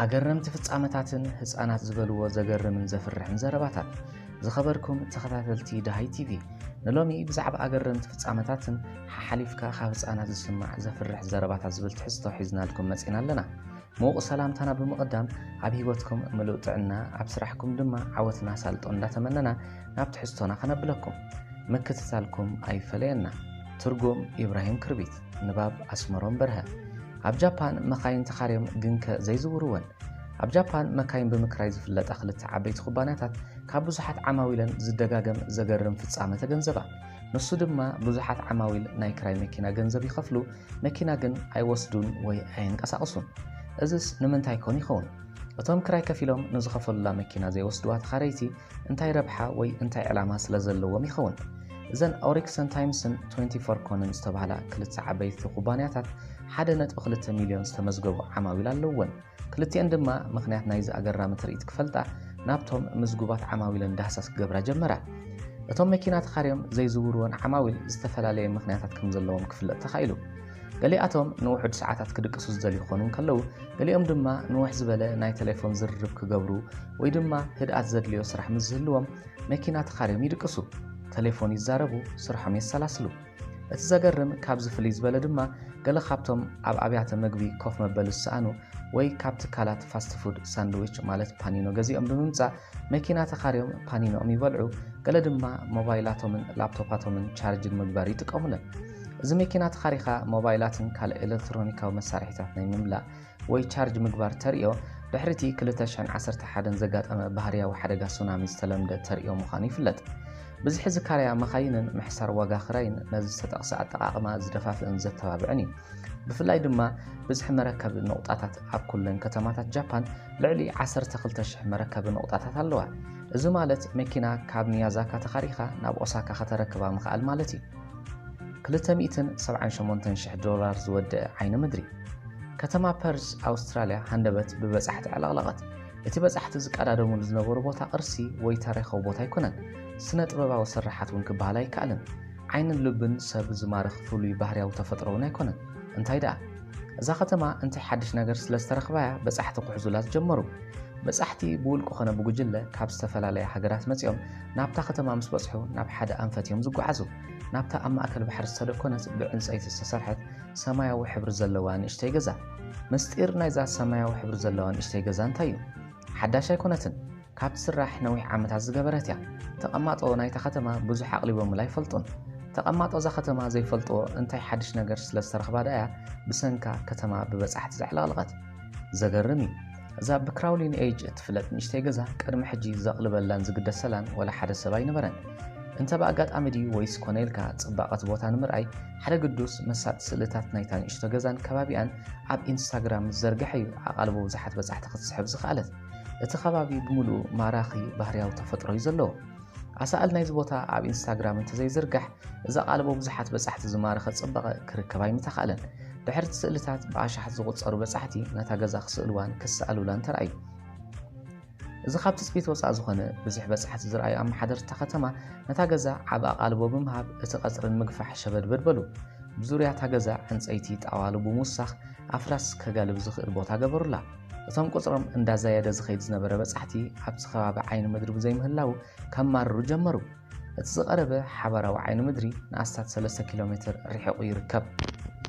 ኣገረምቲ ፍጻመታትን ህፃናት ዝበልዎ ዘገርምን ዘፍርሕን ዘረባታት ዝኸበርኩም ተኸታተልቲ ድሃይ ቲቪ ንሎሚ ብዛዕባ ኣገረምቲ ፍጻመታትን ሓሓሊፍካ ካብ ህፃናት ዝስማዕ ዘፍርሕ ዘረባታት ዝብል ትሕዝቶ ሒዝናልኩም መፂና ኣለና ሙዉቅ ሰላምታና ብምቅዳም ኣብ ሂወትኩም ምሉእ ጥዕና ኣብ ስራሕኩም ድማ ዓወትን ኣሳልጦን እንዳተመነና ናብ ትሕዝቶና ከነብለኩም ምክትታልኩም ኣይፈለየና ትርጉም ኢብራሂም ክርቢት ንባብ ኣስመሮም በርሀ ኣብ ጃፓን መካይን ተኻርዮም ግንከ ዘይዝውርወን ኣብ ጃፓን መካይን ብምክራይ ዝፍለጣ ክልተ ዓበይቲ ኩባንያታት ካብ ብዙሓት ዓማዊለን ዝደጋገም ዘገርም ፍጻመ ተገንዘባ። ንሱ ድማ ብዙሓት ዓማዊል ናይ ክራይ መኪና ገንዘብ ይኸፍሉ መኪና ግን ኣይወስዱን ወይ ኣየንቀሳቕሱን። እዝስ ንምንታይ ኮን ይኸውን? እቶም ክራይ ከፊሎም ንዝኸፈሉላ መኪና ዘይወስዱዋ ተኻረይቲ እንታይ ረብሓ ወይ እንታይ ዕላማ ስለ ዘለዎም ይኸውን? እዘን ኦሪክሰን ታይምስን ትወንቲ ፎር ኮንን ዝተባህላ ክልተ ዓበይቲ ኩባንያታት ሓደ ነጥቢ ክልተ ሚልዮን ዝተመዝገቡ ዓማዊል ኣለዉወን። ክልቲኤን ድማ ምኽንያት ናይዚ ኣገራሚ ትርኢት ክፈልጣ ናብቶም ምዝጉባት ዓማዊለን ዳህሳስ ክገብራ ጀመራ። እቶም መኪና ተኻርዮም ዘይዝውርወን ዓማዊል ዝተፈላለየ ምኽንያታት ከም ዘለዎም ክፍለጥ ተኻኢሉ። ገሊኣቶም ንውሑድ ሰዓታት ክድቅሱ ዝደልዩ ክኾኑ እንከለዉ፣ ገሊኦም ድማ ንውሕ ዝበለ ናይ ተሌፎን ዝርርብ ክገብሩ ወይ ድማ ህድኣት ዘድልዮ ስራሕ ምስ ዝህልዎም መኪና ተኻርዮም ይድቅሱ፣ ተሌፎን ይዛረቡ፣ ስርሖም የሰላስሉ። እቲ ዘገርም ካብዚ ፍልይ ዝበለ ድማ ገለ ካብቶም ኣብ ኣብያተ መግቢ ኮፍ መበሊ ዝሰኣኑ ወይ ካብ ትካላት ፋስት ፉድ ሳንድዊች ማለት ፓኒኖ ገዚኦም ብምምጻእ መኪና ተኻርዮም ፓኒኖኦም ይበልዑ፣ ገለ ድማ ሞባይላቶምን ላፕቶፓቶምን ቻርጅ ንምግባር ይጥቀሙለን። እዚ መኪና ተኻሪኻ ሞባይላትን ካልእ ኤለክትሮኒካዊ መሳርሒታት ናይ ምምላእ ወይ ቻርጅ ምግባር ተርእዮ ድሕሪ እቲ 2011 ዘጋጠመ ባህርያዊ ሓደጋ ሱናሚ ዝተለምደ ተርእዮ ምዃኑ ይፍለጥ። ብዝሒ ዝካረያ መኻይንን ምሕሳር ዋጋ ክራይን ነዚ ዝተጠቕሰ ኣጠቓቕማ ዝደፋፍእን ዘተባብዕን እዩ። ብፍላይ ድማ ብዝሒ መረከቢ ነቑጣታት ኣብ ኩለን ከተማታት ጃፓን ልዕሊ 12,000 መረከቢ ነቑጣታት ኣለዋ። እዚ ማለት መኪና ካብ ሚያዛካ ተኻሪኻ ናብ ኦሳካ ከተረክባ ምኽኣል ማለት እዩ። ክልተ ሚእትን ሰብዓን ሸሞንተን ሽሕ ዶላር ዝወደኣ ዓይኒ ምድሪ። ከተማ ፐርዝ ኣውስትራልያ ሃንደበት ብበጻሕቲ ኣዕለቕለቐት። እቲ በጻሕቲ ዝቀዳደሙሉ ዝነበሩ ቦታ ቅርሲ ወይ ታሪኻዊ ቦታ ኣይኮነን፣ ስነ ጥበባዊ ስርሓት እውን ክበሃል ኣይከኣልን። ዓይንን ልብን ሰብ ዝማርኽ ፍሉይ ባህርያዊ ተፈጥሮ እውን ኣይኮነን። እንታይ ደኣ እዛ ከተማ እንታይ ሓድሽ ነገር ስለ ዝተረኽባ'ያ በጻሕቲ ክሕዙላ ዝጀመሩ። በጻሕቲ ብውልቂ ኮነ ብጉጅለ ካብ ዝተፈላለያ ሃገራት መጺኦም ናብታ ከተማ ምስ በጽሑ ናብ ሓደ ኣንፈት እዮም ዝጓዓዙ። ናብታ ኣብ ማእከል ባሕሪ ዝተደኮነት ብዕንጸይቲ ዝተሰርሐት ሰማያዊ ሕብሪ ዘለዋ ንእሽተይ ገዛ። ምስጢር ናይዛ ሰማያዊ ሕብሪ ዘለዋ ንእሽተይ ገዛ እንታይ እዩ? ሓዳሽ ኣይኮነትን። ካብ ትስራሕ ነዊሕ ዓመታት ዝገበረት እያ። ተቐማጦ ናይታ ከተማ ብዙሕ ኣቕሊቦምላ ኣይፈልጡን። ተቐማጦ እዛ ከተማ ዘይፈልጥዎ እንታይ ሓድሽ ነገር ስለ ዝተረኽባ ደኣ'ያ ብሰንካ ከተማ ብበጻሕቲ ዘዕለቕለቐት። ዘገርም እዩ እዛ ብክራውሊን ኤጅ እትፍለጥ ንእሽተይ ገዛ ቅድሚ ሕጂ ዘቕልበላን ዝግደሰላን ወላ ሓደ ሰብ ኣይነበረን። እንተ ብኣጋጣሚ ድዩ ወይስ ኮነ ኢልካ ጽባቐት ቦታ ንምርኣይ ሓደ ግዱስ መሳጢ ስእልታት ናይታ ንእሽቶ ገዛን ከባቢኣን ኣብ ኢንስታግራም ምስ ዘርግሐ እዩ ኣቓልቦ ብዙሓት በጻሕቲ ክትስሕብ ዝኸኣለት። እቲ ከባቢ ብምሉኡ ማራኺ ባህርያዊ ተፈጥሮ እዩ ዘለዎ። ኣሳእል ናይዚ ቦታ ኣብ ኢንስታግራም እንተዘይዝርጋሕ እዛ ቃለ ብብዙሓት በጻሕቲ ዝማረኸ ጽባቐ ክርከብ ኣይምተኻእለን። ድሕርቲ ስእልታት ብኣሻሓት ዝቑጸሩ በጻሕቲ ነታ ገዛ ክስእልዋን ክሰኣሉላን ተራእዩ። እዚ ካብ ትጽቢት ወጻእ ዝኾነ ብዙሕ በጻሕቲ ዝረኣዩ ኣመሓደርቲ እታ ከተማ ነታ ገዛ ዓቢ ኣቓልቦ ብምሃብ እቲ ቀጽሪ ንምግፋሕ ሸበድበድ በሉ። ብዙርያ እታ ገዛ ዕንጸይቲ ጣዋሉ ብምውሳኽ ኣፍራስ ከጋልብ ዝኽእል ቦታ ገበሩላ። እቶም ቁፅሮም እንዳዛየደ ዝኸይድ ዝነበረ በፃሕቲ ኣብቲ ከባቢ ዓይኒ ምድሪ ብዘይምህላዉ ከማርሩ ጀመሩ። እቲ ዝቐረበ ሓባራዊ ዓይኒ ምድሪ ንኣስታት ሰለስተ ኪሎ ሜትር ርሒቑ ይርከብ።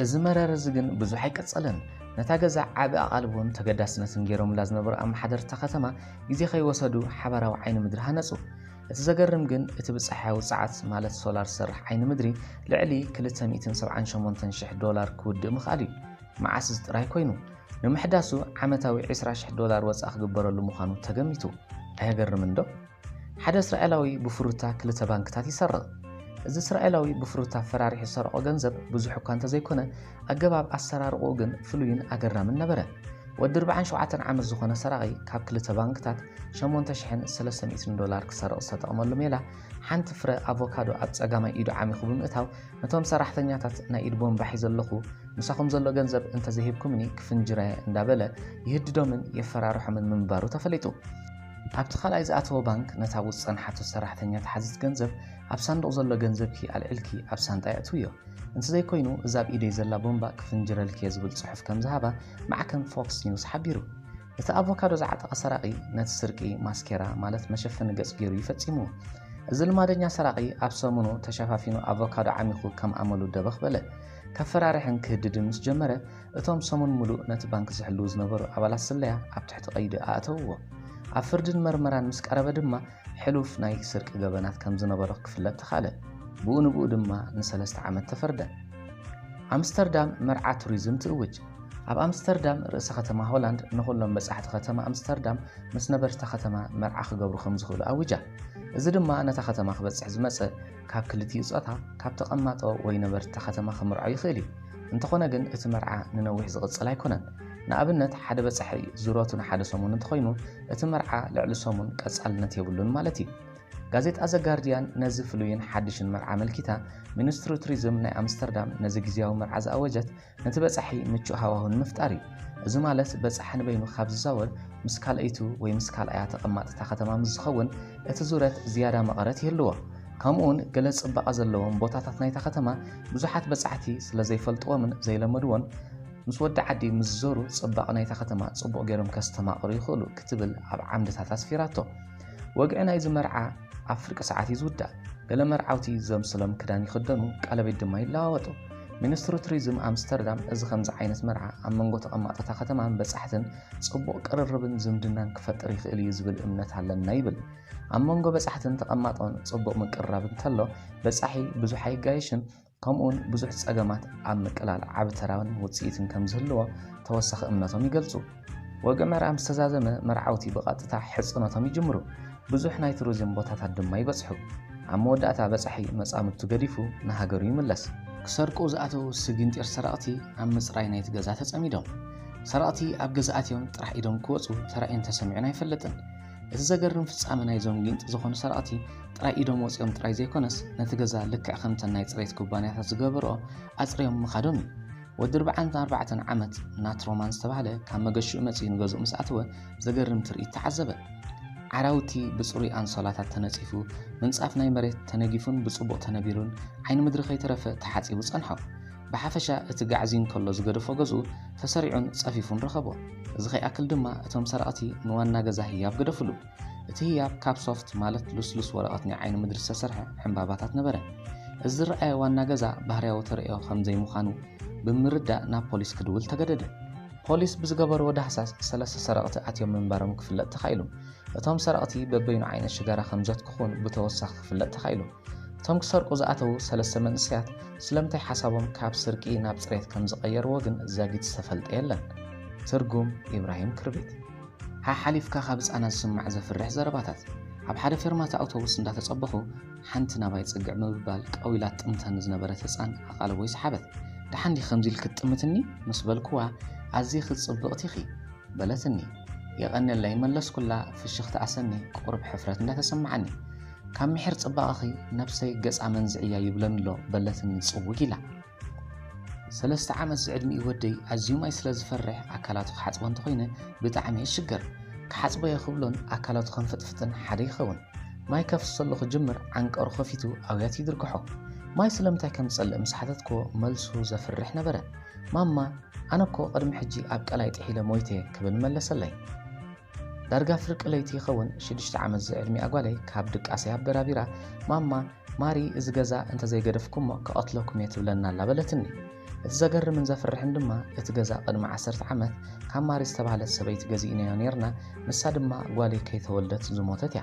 እዚ መረረ እዚ ግን ብዙሕ ኣይቀፀለን። ነታ ገዛ ዓቢ ኣቓልቦን ተገዳስነትን ገይሮምላ ዝነበሩ ኣመሓደርቲ እታ ከተማ ግዜ ከይወሰዱ ሓባራዊ ዓይኒ ምድሪ ሃነፁ። እቲ ዘገርም ግን እቲ ብፀሓያዊ ፀዓት ማለት ሶላር ዝሰርሕ ዓይኒ ምድሪ ልዕሊ ክልተ ሚእትን ሰብዓን ሸሞንተን ሽሕ ዶላር ክውድእ ምኽኣሉ እዩ። መዓስ እዚ ጥራይ ኮይኑ! ንምሕዳሱ ዓመታዊ ዕስራ ሽሕ ዶላር ወጻኢ ክግበረሉ ምዃኑ ተገሚቱ። ኣየገርምንዶ? ሓደ እስራኤላዊ ብፍሩታ ክልተ ባንክታት ይሰርቕ። እዚ እስራኤላዊ ብፍሩታ ፈራሪሑ ዝሰረቖ ገንዘብ ብዙሕ እኳ እንተዘይኮነ፣ ኣገባብ ኣሰራርቑኡ ግን ፍሉይን ኣገራምን ነበረ። ወዲ ርብዓን ሸውዓተን ዓመት ዝኾነ ሰራቒ ካብ ክልተ ባንክታት ሸሞንተ ሽሕን ሰለስተ ሚእትን ዶላር ክሰርቕ ዝተጠቕመሉ ሜላ፣ ሓንቲ ፍረ ኣቮካዶ ኣብ ጸጋማይ ኢዱ ዓሚኹ ብምእታው፣ ነቶም ሰራሕተኛታት ናይ ኢድ ቦምባ ሒዘ ኣለኹ፣ ምሳኹም ዘሎ ገንዘብ እንተዘይሂብኩምኒ ክፍንጅረ እንዳበለ ይህድዶምን የፈራርሖምን ምንባሩ ተፈሊጡ። ኣብቲ ካልኣይ ዝኣተዎ ባንክ ነታ ውፅ ፀንሓቶ ሰራሕተኛ ተሓዚት ገንዘብ ኣብ ሳንዱቕ ዘሎ ገንዘብኪ ኣልዒልኪ ኣብ ሳንጣ የእትውዮ፣ እንተዘይኮይኑ እዛ ኣብ ኢደይ ዘላ ቦምባ ክፍንጅረልኪየ ዝብል ፅሑፍ ከምዝሃባ ማዕከን ፎክስ ኒውስ ሓቢሩ። እቲ ኣቮካዶ ዝዓጠቐ ሰራቒ ነቲ ስርቂ ማስኬራ ማለት መሸፈኒ ገጽ ገይሩ እዩ ፈጺምዎ። እዚ ልማደኛ ሰራቒ ኣብ ሰሙኑ ተሸፋፊኑ ኣቮካዶ ዓሚኹ ከም ኣመሉ ደበኽ በለ። ከፈራርሕን ክህድድን ምስ ጀመረ፣ እቶም ሰሙን ምሉእ ነቲ ባንክ ዝሕልዉ ዝነበሩ ኣባላት ስለያ ኣብ ትሕቲ ቀይዲ ኣእተውዎ። ኣብ ፍርድን መርመራን ምስ ቀረበ ድማ ሕሉፍ ናይ ስርቂ ገበናት ከም ዝነበሮ ክፍለጥ ተኻእለ፣ ብኡ ንብኡ ድማ ንሰለስተ ዓመት ተፈርደ። ኣምስተርዳም መርዓ ቱሪዝም ትእውጅ። ኣብ ኣምስተርዳም ርእሰ ከተማ ሆላንድ ንኹሎም በጻሕቲ ከተማ ኣምስተርዳም ምስ ነበርቲ'ታ ከተማ መርዓ ክገብሩ ከም ዝኽእሉ ኣዊጃ። እዚ ድማ ነታ ከተማ ክበጽሕ ዝመጸ ካብ ክልቲኡ ጾታ ካብ ተቐማጦ ወይ ነበርቲ'ታ ከተማ ክምርዖ ይኽእል እዩ። እንተኾነ ግን እቲ መርዓ ንነዊሕ ዝቕጽል ኣይኮነን። ንኣብነት ሓደ በጻሒ ዙረቱ ንሓደ ሰሙን እንተኾይኑ እቲ መርዓ ልዕሊ ሰሙን ቀጻልነት የብሉን ማለት እዩ። ጋዜጣ ዘ ጋርድያን ነዚ ፍሉይን ሓድሽን መርዓ ኣመልኪታ ሚኒስትሪ ቱሪዝም ናይ ኣምስተርዳም ነዚ ግዝያዊ መርዓ ዝኣወጀት ነቲ በጻሒ ምቹእ ሃዋሁ ንምፍጣር እዩ። እዚ ማለት በጻሒ ንበይኑ ካብ ዝዛወር ምስ ካልኣይቱ ወይ ምስ ካልኣያ ተቐማጢ እታ ከተማ ምስ ዝኸውን እቲ ዙረት ዝያዳ መቐረት ይህልዎ። ከምኡውን ገለ ጽባቐ ዘለዎም ቦታታት ናይታ ከተማ ብዙሓት በጻሕቲ ስለ ዘይፈልጥዎምን ዘይለመድዎን ምስ ወዲ ዓዲ ምስ ዝዞሩ ጽባቐ ናይታ ከተማ ጽቡቕ ገይሮም ከስተማቕሩ ይኽእሉ ክትብል ኣብ ዓምድታት ኣስፊራቶ። ወግዒ ናይዚ መርዓ ኣብ ፍርቂ ሰዓት እዩ ዝውዳእ። ገለ መርዓውቲ ዘምስሎም ክዳን ይኽደኑ፣ ቀለቤት ድማ ይለዋወጡ። ሚኒስትሪ ቱሪዝም ኣምስተርዳም እዚ ከምዚ ዓይነት መርዓ ኣብ መንጎ ተቐማጦታ ከተማን በጻሕትን ጽቡቕ ቅርርብን ዝምድናን ክፈጥር ይኽእል እዩ ዝብል እምነት ኣለና ይብል። ኣብ መንጎ በጻሕትን ተቐማጦን ጽቡቕ ምቅርራብ እንተሎ በጻሒ ብዙሕ ኣይጋየሽን፣ ከምኡውን ብዙሕ ጸገማት ኣብ ምቅላል ዓቢ ተራን ውጽኢትን ከም ዝህልዎ ተወሳኺ እምነቶም ይገልጹ። ወግዒ መርዓ ምስ ተዛዘመ፣ መርዓውቲ ብቐጥታ ሕጽኖቶም ይጅምሩ፣ ብዙሕ ናይ ቱሪዝም ቦታታት ድማ ይበጽሑ። ኣብ መወዳእታ በጻሒ መጻምድቱ ገዲፉ ንሃገሩ ይምለስ። ክሰርቁ ዝኣተዉ ስግንጢር ሰረቕቲ ኣብ ምጽራይ ናይቲ ገዛ ተጸሚዶም። ሰረቕቲ ኣብ ገዛ ኣትዮም ጥራሕ ኢዶም ክወጹ ተራእዩን ተሰሚዑን ኣይፈልጥን። እቲ ዘገርም ፍጻመ ናይዞም ጊንጢ ዝኾኑ ሰረቕቲ ጥራይ ኢዶም ወጺኦም ጥራይ ዘይኮነስ ነቲ ገዛ ልክዕ ከምተን ናይ ጽሬት ኩባንያታት ዝገበርኦ ኣጽርዮም ምኻዶም እዩ። ወዲ ርብዓን ኣርባዕተን ዓመት ናት ሮማን ዝተባህለ ካብ መገሽኡ መጺኡ ንገዝኡ ምስ ኣተወ ዘገርም ትርኢት ተዓዘበ። ዓራውቲ ብጽሩይ ኣንሶላታት ተነጺፉ፣ ምንጻፍ ናይ መሬት ተነጊፉን ብጽቡቕ ተነቢሩን ዓይኒ ምድሪ ከይተረፈ ተሓጺቡ ጸንሖ። ብሓፈሻ እቲ ጋዕዝዩ እንከሎ ዝገደፎ ገዝኡ ተሰሪዑን ጸፊፉን ረኸቦ። እዚ ከይኣክል ድማ እቶም ሰረቕቲ ንዋና ገዛ ህያብ ገደፉሉ። እቲ ህያብ ካብ ሶፍት ማለት ልስሉስ ወረቐት ናይ ዓይኒ ምድሪ ዝተሰርሐ ዕምባባታት ነበረ። እዚ ዝረኣየ ዋና ገዛ ባህርያዊ ተርእዮ ከም ዘይምዃኑ ብምርዳእ ናብ ፖሊስ ክድውል ተገደደ። ፖሊስ ብዝገበርዎ ዳህሳስ ሰለስተ ሰረቕቲ ኣትዮም ምንባሮም ክፍለጥ ተኻኢሉ። እቶም ሰረቕቲ በበይኑ ዓይነት ሽጋራ ከም ዘትክኹን ብተወሳኺ ክፍለጥ ተኻኢሉ። እቶም ክሰርቁ ዝኣተዉ ሰለስተ መንእሰያት ስለምንታይ ሓሳቦም ካብ ስርቂ ናብ ጽሬት ከም ዝቐየርዎ ግን ዛጊት ዝተፈልጠ የለን። ትርጉም ኢብራሂም ክርቢት። ሓሓሊፍካ ካብ ህጻናት ዝስማዕ ዘፍርሕ ዘረባታት። ኣብ ሓደ ፌርማታ ኣውቶቡስ እንዳተጸበኹ ሓንቲ ናባይ ጽግዕ ምብባል ቀው ኢላ ትጥምተኒ ዝነበረት ህጻን ኣቓልቦይ ሰሓበት። ደሓን ዲኺ ከምዚ ኢልኪ ትጥምትኒ? ምስ በልኩዋ ኣዚኺ ጽብቕቲ ኢኺ። በለትኒ። የቐንየለይ መለስኩላ ፍሽኽታኣ ሰኒ ቁሩብ ሕፍረት እንዳተሰማዓኒ። ካብ ምሒር ጽባቐኺ ነብሰይ ገጽ ኣመንዝዒ እያ ይብለኒ ኣሎ በለትኒ ጽውግ ኢላ። ሰለስተ ዓመት ዝዕድሚኡ ወደይ ኣዝዩ ማይ ስለ ዝፈርሕ ኣካላቱ ክሓጽቦ እንተኾይነ ብጣዕሚ ይሽገር። ክሓጽቦ እየ ክብሎን ኣካላቱ ከንፍጥፍጥን ሓደ ይኸውን። ማይ ከፍስሰሉ ክጅምር ዓንቀሩ ከፊቱ ኣውያት ይድርግሖ። ማይ ስለምንታይ ከም ዝጸልእ ምስ ሓተትክዎ መልሱ ዘፍርሕ ነበረ። ማማ ኣነ እኮ ቅድሚ ሕጂ ኣብ ቀላይ ጥሒለ ሞይተ ክብል መለሰለይ። ዳርጋ ፍርቂ ለይቲ ይኸውን ሽዱሽተ ዓመት ዝዕድሚኣ ጓለይ ካብ ድቃሰይ ኣበራቢራ ማማ ማሪ እዚ ገዛ እንተዘይገደፍኩሞ ክቐትለኩም እየ ትብለና ኣላ በለትኒ። እቲ ዘገርምን ዘፍርሕን ድማ እቲ ገዛ ቅድሚ ዓሰርተ ዓመት ካብ ማሪ ዝተባህለት ሰበይቲ ገዚእናዮ ኔርና ንሳ ድማ ጓለይ ከይተወልደት ዝሞተት እያ።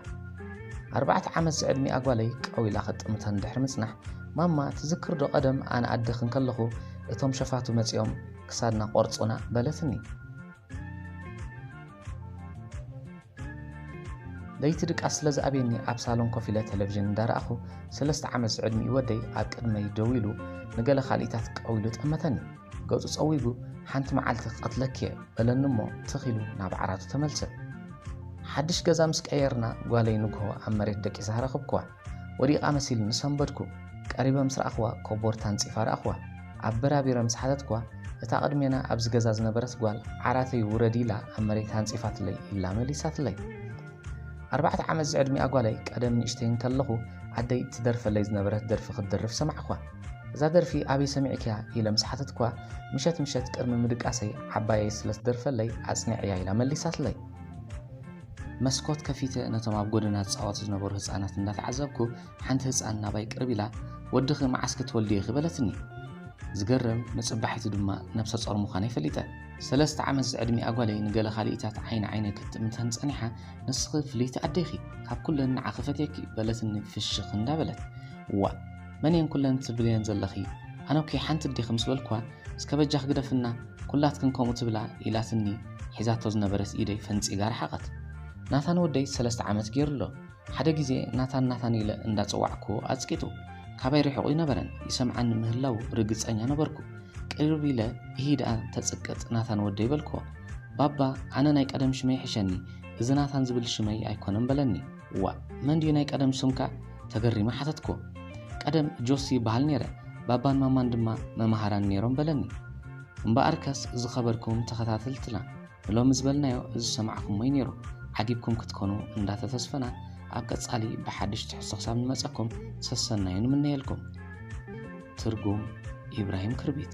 ኣርባዕተ ዓመት ዝዕድሚኣ ጓለይ ቀው ኢላ ክጥምተን ድሕሪ ምጽናሕ ማማ ትዝክር ዶ ቀደም ኣነ ኣደኺ እንከለኹ እቶም ሸፋቱ መጺኦም ክሳድና ቆርጹና በለትኒ። ለይቲ ድቃስ ስለ ዝኣብየኒ ኣብ ሳሎን ኮፍ ኢለ ቴሌቭዥን እንዳረኣኹ ሰለስተ ዓመት ዝዕድሚኡ ወደይ ኣብ ቅድመይ ደው ኢሉ ንገለ ካልኢታት ቀው ኢሉ ጠመተኒ ገጹ ጸዊጉ ሓንቲ መዓልቲ ክቐትለኪ እየ በለኒ እሞ ትኽ ኢሉ ናብ ዓራቱ ተመልሰ ሓድሽ ገዛ ምስ ቀየርና ጓለይ ንግሆ ኣብ መሬት ደቂሳ ረኽብክዋ ወዲቓ መሲሉኒ ሰንበድኩ። ቀሪበ ምስ ረኣኹዋ ኮቦርታ ኣንጺፋ ረኣኹዋ። ኣበራቢረ ምስ ሓተትኩዋ፣ እታ ቅድሜና ኣብዚ ገዛ ዝነበረት ጓል ዓራተይ ውረዲ ኢላ ኣብ መሬት ኣንጺፋትለይ ኢላ መሊሳትለይ። ኣርባዕተ ዓመት ዝዕድሚኣ ጓለይ ቀደም ንእሽተይ እንከለኹ ኣደይ ትደርፈለይ ዝነበረት ደርፊ ክትድርፍ ሰማዕኩዋ። እዛ ደርፊ ኣበይ ሰሚዕክያ ኢለ ምስ ሓተትኩዋ፣ ምሸት ምሸት ቅድሚ ምድቃሰይ ዓባየይ ስለ ትደርፈለይ ኣጽኒዐያ ኢላ መሊሳትለይ። መስኮት ከፊተ ነቶም ኣብ ጎደና ዝጻወቱ ዝነበሩ ህጻናት እንዳተዓዘብኩ ሓንቲ ህጻን ናባይ ቅርብ ኢላ ወድኺ መዓስ ክትወልዲ ኢኺ በለትኒ። ዝገርም ንጽባሒቱ ድማ ነብሰ ጾር ምዃነይ ፈሊጠ። ሰለስተ ዓመት ዝዕድሚኣ ጓለይ ንገለ ካልኢታት ዓይኒ ዓይነይ ክትጥምተን ጸኒሓ ንስኺ ፍልይቲ ኣደ ኢኺ ካብ ኩለን ንዓኺ ፈትየኪ በለትኒ ፍሽኽ እንዳበለት። ዋእ መን እየን ኩለን ትብልየን ዘለኺ ኣነ'ኮ ሓንቲ ኣዴኺ ምስ በልኩዋ እስከ በጃኽ ግደፍና ኩላትክን ከምኡ ትብላ ኢላትኒ ሒዛቶ ዝነበረት ኢደይ ፈንጺጋ ረሓቐት። ናታን ወደይ ሰለስተ ዓመት ጌሩ ኣሎ። ሓደ ግዜ ናታን ናታን ኢለ እንዳ ጸዋዕኩዎ ኣጽቂጡ። ካባይ ሪሒቑ ኣይነበረን ይሰምዓኒ ምህላዉ ርግጸኛ ነበርኩ። ቅርብ ኢለ እሂ ደኣ ተጽቅጥ ናታን ወደይ በልኩዎ። ባባ ኣነ ናይ ቀደም ሽመይ ይሕሸኒ እዚ ናታን ዝብል ሽመይ ኣይኮነን በለኒ። ዋእ መን ድዩ ናይ ቀደም ስምካ? ተገሪመ ሓተትኩዎ። ቀደም ጆሲ ይበሃል ነይረ፣ ባባን ማማን ድማ መማህራን ነይሮም በለኒ። እምበኣርከስ ዝኸበርኩም ተኸታተልትና ንሎሚ ዝበልናዮ ዝሰማዕኩሞ'ዩ ነይሩ ዓጊብኩም ክትኮኑ እንዳተተስፈና ኣብ ቀጻሊ ብሓድሽ ትሕዝቶ ክሳብ ንመጸኩም ሰሰናዩ ንምነየልኩም። ትርጉም ኢብራሂም ክርቢት